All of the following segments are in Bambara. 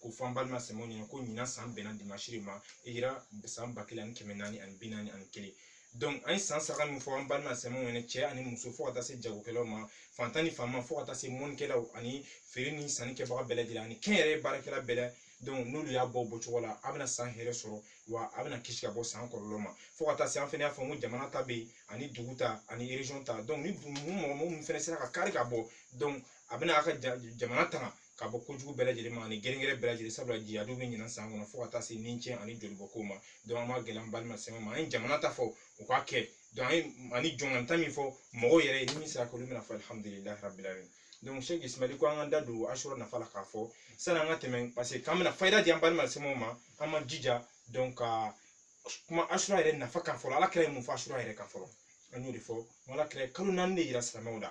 ko fɔ an balima silamɛw ɲɛna ko ɲinan san bɛnna dimansi de ma hijira san ba kelen ani kɛmɛ naani ani bi naani ani kelen donc an ye san saraka min fɔ an balima silamɛw ɲɛna cɛ ani muso fo ka taa se jagokɛlaw ma fantan ni fanma fo ka taa se mɔnnikɛlaw ani feere ni sanni kɛbaga bɛɛ lajɛlen ani kɛnyɛrɛ baarakɛla bɛɛ la donc n'olu y'a bɔ bɔcogo la a bɛna san hɛrɛ sɔrɔ wa a bɛna kisi ka bɔ san kɔlɔlɔ ma fo ka taa se an fana y'a fɔ ko jamana ta bɛ yen ani dugu ta ani region ta donc ni mɔgɔ minnu fana sera ka kari ka bɔ donc a bɛna a ka jamana tanga ka bɔ kojugu bɛɛ lajɛlen ma ani gɛrɛngɛrɛ bɛɛ lajɛlen sabula jahadiw bɛ ɲinan san kɔnɔ fo ka taa se ni cɛn ani jolibɔn ko ma donc an b'a gɛlɛya an balima silamɛ ma an ye jamana ta fɔ u k'a kɛ donc an ye ani jɔnkanta min fɔ mɔgɔw yɛrɛ ye ni min sera k'olu bɛna fɔ alihamudulilayi rabil alamin donc sɛki ismaili ko an ka da don asura nafa la k'a fɔ sani an ka tɛmɛ parce que k'an bɛna fayida di an balima silamɛw ma an b'an jija donc ka kuma asura yɛrɛ nafa kan fɔlɔ ala kira ye mun fɔ asura yɛrɛ kan fɔlɔ an y'o de fɔ ala kira ye kalo naani de yira silamɛw la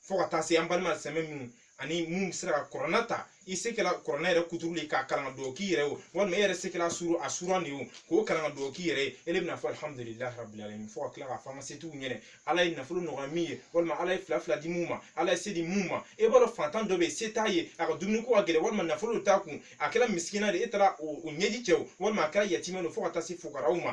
fo ka taa se an balima silamɛ minnu ani mun bɛ se ka kuranɛ ta i se kɛla kuranɛ yɛrɛ kuturu de k'a kalan ka dugawu k'i yɛrɛ ye o walima e yɛrɛ se kɛla sura surun de ye o k'o kalan ka dugawu k'i yɛrɛ ye e de bɛna fɔ alihamudulilayi rabili alamin fo ka tila k'a fɔ an ka setigiw ɲɛna ala ye nafolo nɔgɔya min ye walima ala ye fila fila di mun ma ala ye se di mun ma e b'a dɔn fantan dɔ bɛ yen se t'a ye a ka dumuni ko ka gɛlɛn walima nafolo t'a kun a kɛra misikina de ye e taara o o ɲɛji cɛ o walima a kɛra yatimɛ de ye fo ka taa se fukaraw ma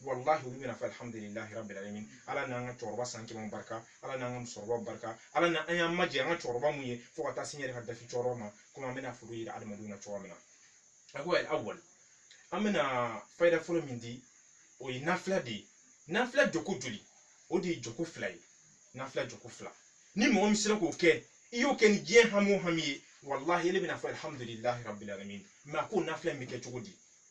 walahi olu bɛna fɔ alihamudulilahi rabil alamin ala n'an ka cɛkɔrɔba san kɛmɛw barika ala n'an ka musokɔrɔbaw barika ala na an y'an majɛ an ka cɛkɔrɔba mun ye fo ka taa se n yɛrɛ ka dafi cɛkɔrɔba ma komi an bɛna foro yira adamadenw na cogoya min na a ko awal an bɛna fayida fɔlɔ min di o ye nafila de ye nafila jɔko joli o de ye jɔko fila ye nafila jɔko fila ni mɔgɔ min sera k'o kɛ i y'o kɛ ni diɲɛ hami o hami ye walahi ele bɛna fɔ alihamudulilahi rabil alamin mais a ko nafila in bɛ kɛ cogo di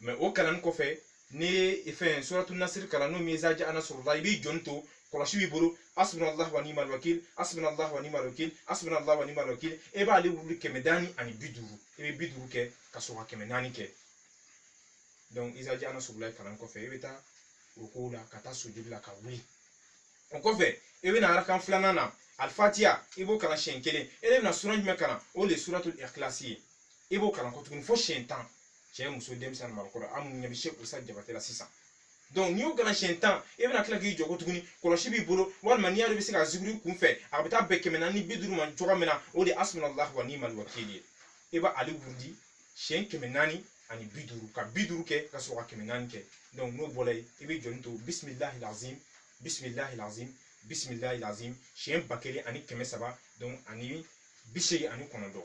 mais o kalanni kɔfɛ n'i ye fɛn suratu nasiri kalan n'o min ye izaja a nasurulahi i b'i jɔni to kɔlɔsi b'i bolo hasbunallahu wa ni'mal wakil hasbunallahu wa ni'mal wakil hasbunallahu wa ni'mal wakil e b'ale wurudi kɛmɛ naani ani bi duuru i bɛ bi duuru kɛ ka sɔrɔ ka kɛmɛ naani kɛ donc izaja a nasurulahi kalan kɔfɛ i bɛ taa rukuw la ka taa sujudi la ka wuli o kɔfɛ i bɛ na arakan filanan na alifatiya i b'o kalan siɲɛ kelen e de bɛna sura jumɛn kalan o de ye suratul ikilasi ye i b'o kalan ko tuguni fo siɲɛ tan cɛ muso denmisɛnnin makɔrɔ an mun ɲɛ bɛ se kusa jabate la sisan donc n'i y'o kalan siɲɛ tan e bɛna tila k'i jɔ ko tuguni kɔlɔsi b'i bolo walima n'i y'a dɔn i bɛ se ka zikiri kun fɛ a bɛ taa bɛn kɛmɛ naani bi duuru ma cogoya min na o de ye hasbunallahu wa ni'mal wakili ye e b'ale wurudi siɲɛ kɛmɛ naani ani bi duuru ka bi duuru kɛ ka sɔrɔ ka kɛmɛ naani kɛ donc n'o bɔra yen i bɛ jɔni to bisimilahil azim bisimilahil azim bisimilahil azim siɲɛ ba kelen ani kɛmɛ saba donc ani bi seegin ani kɔnɔntɔn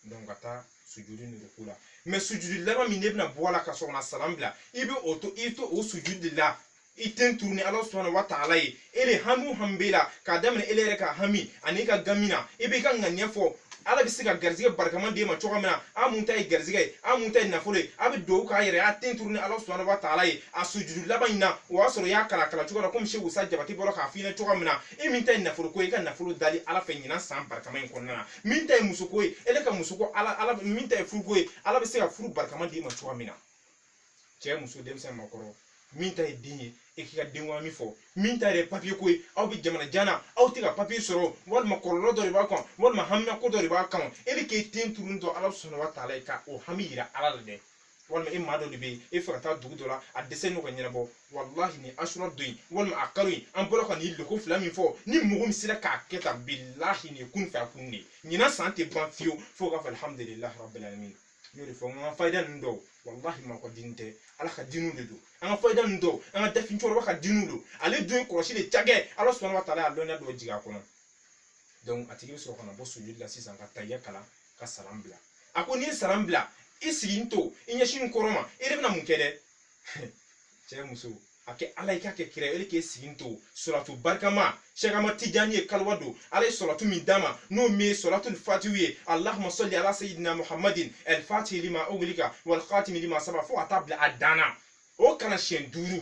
donc ka taa sujudi ni ruku la mais sujudi laban min n'e bɛna bɔ a la ka sɔrɔ ka na salam bila i bɛ o to i to o sujudi de la i ten turunin ala subhanahu wa ta'ala ye e de hami o hami b'e la k'a daminɛ e yɛrɛ ka hami ani ka gami na i b'i ka ŋaniya fɔ ala bɛ se ka garizigɛ barikama d'e ma cogo min na a mun ta ye garizigɛ ye a mun ta ye nafolo ye a bɛ dugawu k'a yɛrɛ a ten turunin ala subhanahu wa ta'ala ye a sujudi laban in na o y'a sɔrɔ i y'a kalan kalan cogo la komi seku usa jabate bɔra k'a f'i ɲɛna cogo min na e min ta ye nafolo ko ye i ka nafolo dali ala fɛ ɲinan san barikama in kɔnɔna na min ta ye musoko ye ele ka musoko ala ala min ta ye furuko ye ala bɛ se ka furu barikama d'i ma cogoya min na cɛ muso denmisɛn makɔrɔ min ta ye den ye e k'i ka den hami fɔ min ta yɛrɛ papiye ko ye aw bɛ jamana jan na aw tɛ ka papiye sɔrɔ walima kɔlɔlɔ dɔ de b'a kan walima haminako dɔ de b'a kan ele k'e ten turu dɔ ala subhanahu wa ta'ala ye ka o hami yira ala la dɛ walima e maa dɔ de bɛ yen e fɛ ka taa dugu dɔ la a dɛsɛlen don ka ɲɛnabɔ walahi nin asura don in walima a kalo in an bɔra ka nin lɔko fila min fɔ ni mɔgɔ min sera k'a kɛ tan bilahi nin ye kun fɛ a kun de ye ɲinan san tɛ ban fiyewu fo k'a fɔ alihamudulilahi rabbil alamin n y'o de fɔ n ka fayida ninnu dɔw walahi maa ka dini tɛ ala ka diniw de don an ka fayida ninnu dɔw an ka dafin cɛkɔrɔba ka diniw don ale dun ye kɔlɔsi de cakɛ ala subhanahu wa ta'ala y'a lɔnniya dɔ jigin a kɔnɔ donc a tigi bɛ sɔrɔ ka na bɔ sujudi la sisan ka tahiya kalan ka salam bila a ko n'i ye salam bila i sigilen to i ɲɛsin kɔrɔn ma e de bɛna mun kɛ dɛ cɛ muso a kɛ ala ye k'a kɛ kira ye ele k'e sigilen to salatu barikama sɛki ahmad tijani ye kaliwa don ala ye salatu min d'a ma n'o min ye salatul fatihi ye allahumma salli ala sayidina muhammadin al fatihi lima uglika wal khatimi lima saba fo ka taa bila a dan na o kalan siɲɛ duuru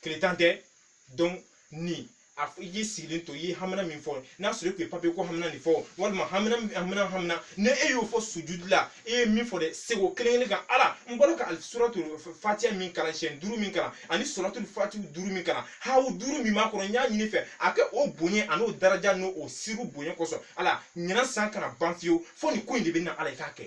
tile tan tɛ donc nin a i k'i sigilen to i ye hamina min fɔ n'a sɔrɔ e tun ye papiye ko hamina nin fɔ walima hamina hamina hamina ni e y'o fɔ sujudi la e ye min fɔ dɛ segin o kelen kelen kan ala n bɔra ka suratu fatiya min kalan siɲɛ duuru min kalan ani salatul fatihi duuru min kalan hawu duuru min b'a kɔnɔ n y'a ɲini i fɛ a kɛ o bonya an'o daraja n'o o siru bonya kosɔn ala ɲinan san kana ban fiyewu fo nin ko in de bɛ na ala i k'a kɛ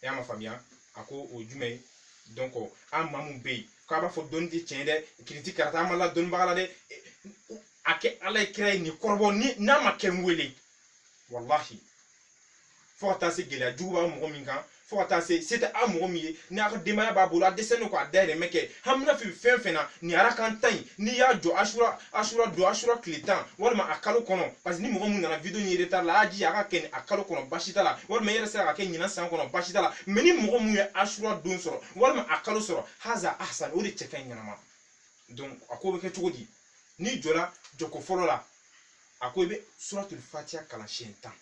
e y'a ma faamuya a ko o jumɛn ye donc an maa mun bɛ yen k'a b'a fɔ dɔnni tɛ tiɲɛ dɛ kiriti karata an ma la dɔnnibaga la dɛ a kɛ ala ye kira ye nin kɔrɔbɔ ni n'a ma kɛ n wele walahi fo ka taa se gɛlɛya jugu b'a mɔgɔ min kan fo ka taa se se tɛ a mɔgɔ min ye n'a ka denbaya b'a bolo a dɛsɛlen don k'a dahirimɛ kɛ hamina b'i la fɛn fɛn na nin arakan tan in n'i y'a jɔ asura asura don asura tile tan walima a kalo kɔnɔ parce que ni mɔgɔ mun nana video in retard la a y'a jija a k'a kɛ nin a kalo kɔnɔ basi t'a la walima i yɛrɛ sera k'a kɛ ɲinan san kɔnɔ basi t'a la mais ni mɔgɔ mun ye asura don sɔrɔ walima a kalo sɔrɔ haza ahsan o de cɛ ka ɲi ɲɛnama donc a ko bɛ kɛ cogo di n'i jɔra jɔko fɔlɔ la a ko i bɛ suratul fatiya kalan siɲɛ tan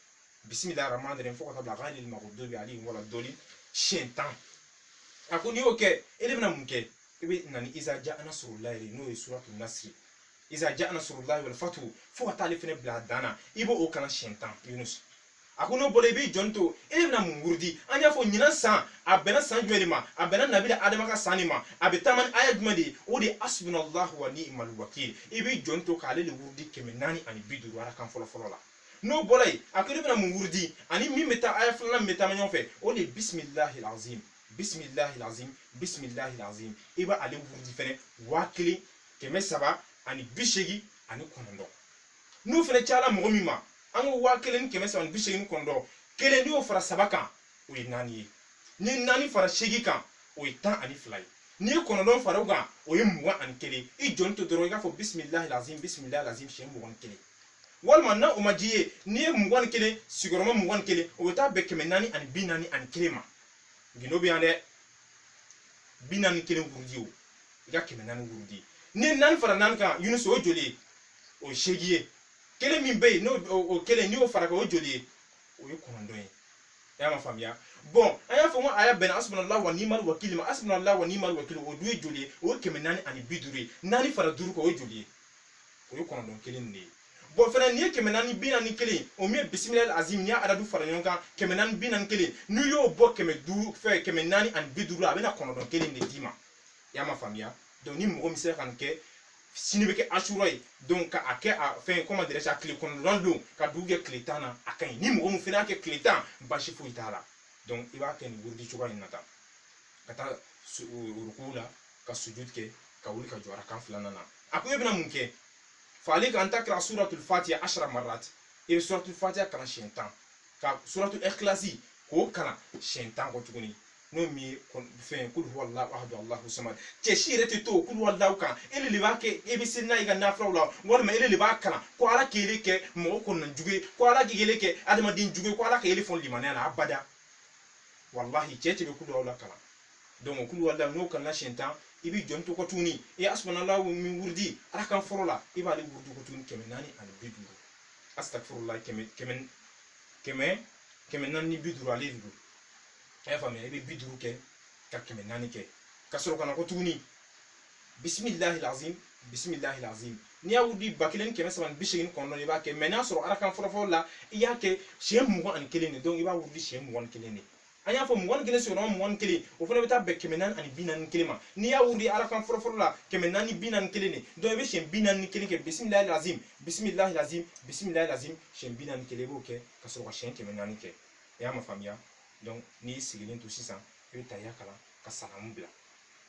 bisimilahi rahmani rahim fo ka taa bila gayril magdubi alayhim wala dɔɔlin siɲɛ tan a ko n'i y'o kɛ e de bɛna mun kɛ i bɛ na ni iza jaa nasurulayi de n'o ye suratu nasiri iza jaa nasurulayi wal fatihu fo ka taa ale fana bila a dan na i b'o o kalan siɲɛ tan yunus a ko n'o bɔra i b'i jɔni to e de bɛna mun wurudi an y'a fɔ ɲinan san a bɛnna san jumɛn de ma a bɛnna nabila adama ka san de ma a bɛ taama ni aya jumɛn de ye o de ye hasibunalahu wa niimal wakili i b'i jɔni to k'ale de wurudi kɛmɛ naani ani bi duuru arakan fɔlɔ fɔlɔ la n'o bɔra yen a ko e de bɛna mun wurudi ani min bɛ taa aya filanan min bɛ taama ɲɔgɔn fɛ o de ye bisimilahi azim bisimilahi azim bisimilahi azim i b'a ale wurudi fɛnɛ waa kelen kɛmɛ saba ani bi seegin ani kɔnɔntɔn n'o fɛnɛ cayala mɔgɔ min ma an ko waa kelen ni kɛmɛ saba ni bi seegin ni kɔnɔntɔn kelen n'i y'o fara saba kan o ye naani ye ni naani fara seegin kan o ye tan ani fila ye n'i ye kɔnɔntɔn fara o kan o ye mugan ani kelen i jɔni to dɔrɔn i k'a fɔ bisimilahi azim bisimilahi azim siɲɛ mugan ni kelen walima n'o ma diya i ye n'i ye mugan ni kelen sigiyɔrɔma mugan ni kelen o bɛ taa bɛn kɛmɛ naani ani bi naani ani kelen ma gundo bɛ yan dɛ bi naani kelen wurudi o i ka kɛmɛ naani wurudi n'i ye naani fara naani kan yunus o joli ye o ye seegin ye kelen min bɛ yen n'o o kelen n'i y'o fara kan o joli ye o ye kɔnɔntɔn ye i y'a ma faamuya bɔn an y'a fɔ ko aya bɛnna hasibunala wa niimal wakili ma hasibunala wa niimal wakili o dun ye joli ye o ye kɛmɛ naani ani bi duuru ye naani fara duuru kan o ye joli ye o ye kɔnɔntɔn kelen de ye bɔn fana nin ye kɛmɛ naani bi naani kelen o min ye bisimila azim n'i y'a adadu fara ɲɔgɔn kan kɛmɛ naani bi naani kelen n'i y'o bɔ kɛmɛ duuru fɛ kɛmɛ naani ani bi duuru a bɛna kɔnɔntɔn kelen de d'i ma y'a ma faamuya donc ni mɔgɔ min sera ka nin kɛ sini bɛ kɛ asura ye donc ka a kɛ a fɛn comment dirais-je tile kɔnɔntɔn don ka dugu jɛ tile tan na a ka ɲi ni mɔgɔ min fana y'a kɛ tile tan basi foyi t'a la donc i b'a kɛ nin wurudi cogoya in na tan ka taa ruku la ka sujud kɛ ka wuli ka jɔ arakan filanan na a ko e bɛna mun kɛ fa alayka an takira suratul fatiha ashara marat e bɛ suratul fatiha kalan siɲɛ tan ka suratul ikhlasi k'o kalan siɲɛ tan kɔ tuguni n'o min ye kɔn- fɛn kulu huwa allahu ahadu allahu samad cɛ si yɛrɛ tɛ to o kulu huwa allahu kan e de de b'a kɛ e bɛ seli n'a ye i ka nafilaw la walima e de de b'a kalan ko ala k'i yɛrɛ kɛ mɔgɔ kɔnɔna jugu ye ko ala k'i yɛrɛ kɛ adamaden jugu ye ko ala k'i yɛrɛ fɔ limaniya la abada walahi cɛ tɛ bɛ kulu huwala kalan donc kulu huwala n'o kalanna siɲɛ tan i b'i jɔn to kɔ tuguni e hasibunala min wurudi arakan fɔlɔ la i b'ale wurudi ko tuguni kɛmɛ naani ani bi duuru asitafurula kɛmɛ kɛmɛ kɛmɛ kɛmɛ naani ni bi duuru ale de don a y'a faamuya i bɛ bi duuru kɛ ka kɛmɛ naani kɛ ka sɔrɔ ka na ko tuguni bisimilahi lazim bisimilahi lazim n'i y'a wurudi ba kelen ni kɛmɛ saba ni bi seegin kɔnɔntɔn i b'a kɛ mɛ n'a sɔrɔ arakan fɔlɔfɔlɔ la i y'a kɛ siɲɛ mugan ani kelen de donc i b'a wurudi siɲɛ mugan ni kelen de an y'a fɔ mugan ni kelen sigiyɔrɔma mugan ni kelen o fana bɛ taa bɛn kɛmɛ naani ani bi naani kelen ma n'i y'a wuli a rakan fɔlɔfɔlɔ la kɛmɛ naani bi naani kelen de don i bɛ siyɛn bi naani kelen kɛ bisimilayi lazim bisimilayi lazim bisimilayi lazim siyɛn bi naani kelen i b'o kɛ ka sɔrɔ ka siyɛn kɛmɛ naani kɛ i y'a ma faamuya n'i sigilen to sisan i bɛ taya kalan ka salamu bila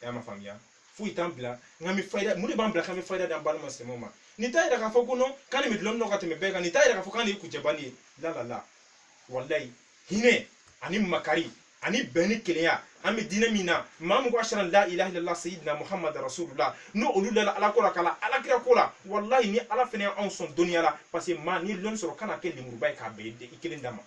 e y'a ma faamuya foyi t'an bila k'an bɛ fayida mun de b'an bila k'an bɛ fayida d'an balima silamɛw ma nin t'a yira k'a fɔ ko non k'an de bɛ dɔnni dɔn ka tɛmɛ bɛɛ kan nin t'a yira k'a fɔ k'an de ye kucɛbani ye la la la walayi hinɛ ani makari ani bɛn ni kelenya an bɛ diinɛ min na maa min ko ashadu la ilaha illallah sayyidina muhammad rasulullah n'o olu dala ala ko la ka la ala kira ko la walayi ni ala fana y'anw sɔn dɔnniya la parce que maa n'i ye dɔnni sɔrɔ kana kɛ lemuruba ye k'a bɛɛ i kelen dama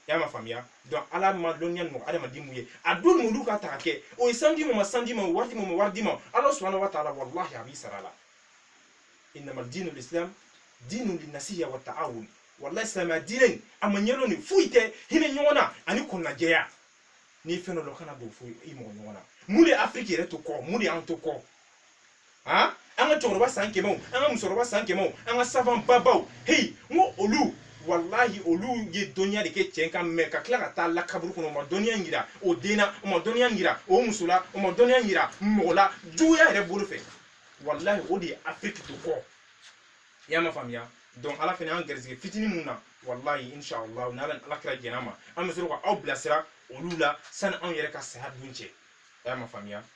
y'a ma faamuya donc ala ma dɔnniya mɔgɔ adamaden mun ye a don n'olu ka ta ka kɛ o ye sanu di mun ma sanu di ma o wari di mun ma wari di ma ala subahana wa taala walahi a b'i sara la innama dinu lislam dinu linasiya wa taawun walahi silamɛya diinɛ in a ma ɲɛdɔn de foyi tɛ hinɛ ɲɔgɔn na ani kɔnɔnajɛya n'i fɛn dɔ dɔn kana don fo i mɔgɔ ɲɔgɔn na mun de ye afiriki yɛrɛ to kɔ mun de y'an to kɔ an ka cɛkɔrɔba san kɛmɛw an ka musokɔrɔba san kɛmɛw an ka savant babaw heyi n ko olu walahi olu ye dɔnniya de kɛ cɛn kan mɛ ka tila ka taa la kaburu kɔnɔ u ma dɔnniya in yira o den na u ma dɔnniya in yira o muso la u ma dɔnniya in yira mɔgɔ la juguya yɛrɛ bolo fɛ walahi o de ye afiriki to kɔ i y'a ma faamuya donc ala fana y'an garisɛgɛ fitinin mun na walahi inshallah n'ala ni ala kira jɛn'a ma an bɛ sɔrɔ ka aw bilasira olu la sani anw yɛrɛ ka saya don cɛ a y'a ma faamuya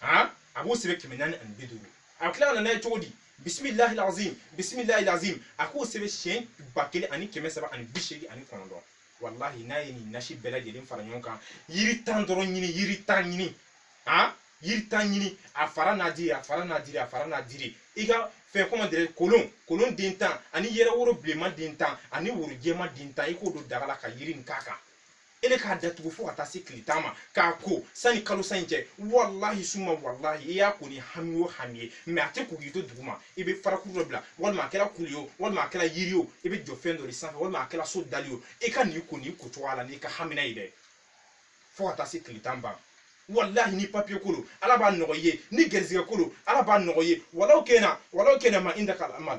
han a b'o sɛbɛn kɛmɛ naani ani bi duuru a tila ka na n'a ye cogo di bisimilahi lazim bisimilahi lazim a k'o sɛbɛn siɲɛ ba kelen ani kɛmɛ saba ani bi seegin ani kɔnɔntɔn walahi n'a ye nin nasi bɛɛ lajɛlen fara ɲɔgɔn kan yiri tan dɔrɔn ɲini yiri tan ɲini han yiri tan ɲini a fara n'a diri a fara n'a diri a fara n'a diri i ka fɛn comment dirais kolon kolon den tan ani yɛrɛ woro bilenman den tan ani woro jɛman den tan i k'o don daga la ka yiri nin k'a kan ile k'a datugu fo ka taa se tile tan ma k'a ko sani kalo san in cɛ walahi suma walahi i y'a ko ni hami o hami ye mais a tɛ ko k'i to dugu ma i bɛ farakuru dɔ bila walima a kɛra kulu ye o walima a kɛra yiri o i bɛ jɔ fɛn dɔ de sanfɛ walima a kɛra so dali o i ka nin ko nin ko cogoya la n'i ka hamina ye dɛ fo ka taa se tile tan ban walahi ni papiye ko lo ala b'a nɔgɔ i ye ni garisɛgɛ ko lo ala b'a nɔgɔ i ye walaw kana walaw kana ma indakal amal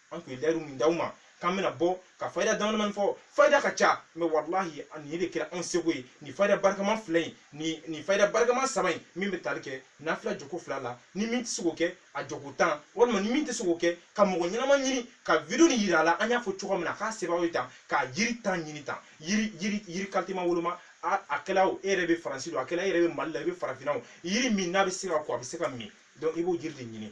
an tun ye layidu min d'aw ma k'an bɛna bɔ ka fayida damadamani fɔ fayida ka ca mais walahi nin de kɛra anw seko ye nin fayida barikama fila in nin nin fayida barikama saba in min bɛ tali kɛ nafila jɔko fila la ni min tɛ se k'o kɛ a jɔko tan walima ni min tɛ se k'o kɛ ka mɔgɔ ɲɛnama ɲini ka video nin yira a la an y'a fɔ cogo min na k'a sɛbɛn ye tan ka yiri tan ɲini tan yiri yiri yiri qualité ma woloma a kɛla o e yɛrɛ bɛ faransi dɔ a kɛla e yɛrɛ bɛ mali la i bɛ farafinna o yiri min n'a bɛ se ka ko a bɛ se ka min donc i b'o yiri de ɲini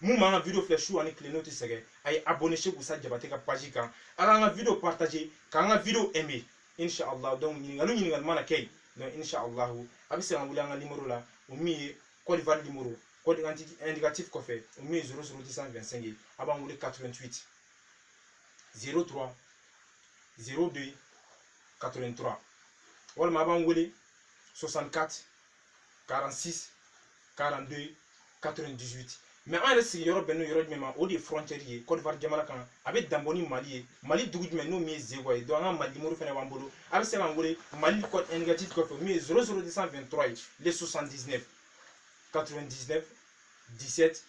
mun b'an ka video filɛ su ani tile n'o tɛ sɛgɛn a ye abonné Cheikh Usa Jabate ka page kan a k'an ka video partager k'an ka video aimer inshallah donc ɲininkali ɲininkali mana kɛ yen donc inshallah a bɛ se k'an wele an ka numéro la o min ye Côte d'Ivoire numéro code indicatif kɔfɛ o min ye 00225 ye a b'an wele 88 03 02 83 walima a b'an wele 64 46 42 98 mais an yɛrɛ sigiyɔrɔ bɛnnen don yɔrɔ jumɛn ma o de ye frontière ye Côte d'Ivoire jamana kan a bɛ danbɔ ni Mali ye Mali dugu jumɛn n'o min ye Zegwa ye donc an ka Mali numéro fɛnɛ b'an bolo a bɛ se k'an wele Mali code indicatif kɔfɛ min ye 00223 ye le 79 99 17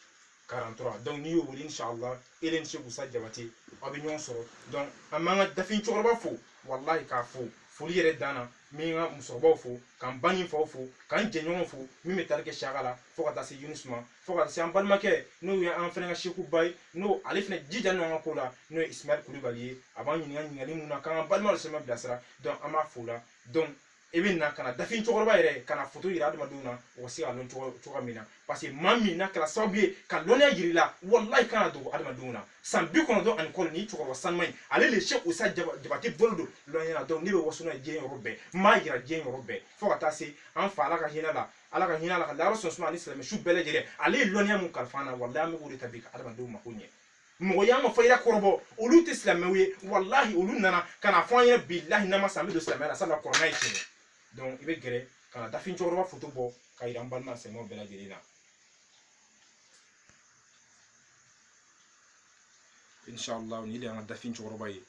43 donc n'i y'o wele inshallah ele ni Cheikh Usa Jabate aw bɛ ɲɔgɔn sɔrɔ donc an b'an ka dafin cɛkɔrɔba fo walahi k'a fo foli yɛrɛ dan na n bɛ n ka musokɔrɔbaw fo ka n ba ni n faw fo ka n jɛɲɔgɔnw fo min bɛ tali kɛ siyaka la fo ka taa se yunus ma fo ka taa se an balimakɛ n'o ye an fana ka sekuba ye n'o ale fana jija n'an ka ko la n'o ye ismail kulubali ye a b'an ɲininka ɲininkali mun na k'an ka balima silamɛw bilasira donc an b'a fo la donc i bɛ na ka na dafin cɛkɔrɔba yɛrɛ ka na foto yira adamadenw na u ka se k'a lɔn cogoya min na parce que maa min n'a kɛra sababu ye ka lɔnniya yira i la walayi kan'a dogo adamadenw na san bi kɔnɔntɔn ani kɔnɔntɔn ni cɛkɔrɔba sanuma in ale le Cheikh Usa Jabate bolo don lɔnniya na donc ne bɛ waso n'a ye diɲɛ yɔrɔ bɛɛ n b'a yira diɲɛ yɔrɔ bɛɛ fo ka taa se an fa ala ka hinɛ a la ala ka hinɛ a la k'a layɔrɔ sɔn suma ani silamɛ su bɛɛ lajɛlen ale ye lɔnniya mun kalifa an na walayi an bɛ k'o de ta bi ka adamadenw mako ɲɛ mɔgɔ y'an ka fayida kɔrɔbɔ olu tɛ silamɛw ye walahi olu nana ka n'a fɔ an ye bilahi n'an ma sa an bɛ don silamɛya la sabula kurana ye tiɲɛ donc i bɛ gɛrɛ ka na dafin cɛkɔrɔba foto bɔ k'a yira an balima silamɛw bɛɛ lajɛlen na inshallah nin de y'an ka dafin cɛkɔrɔba ye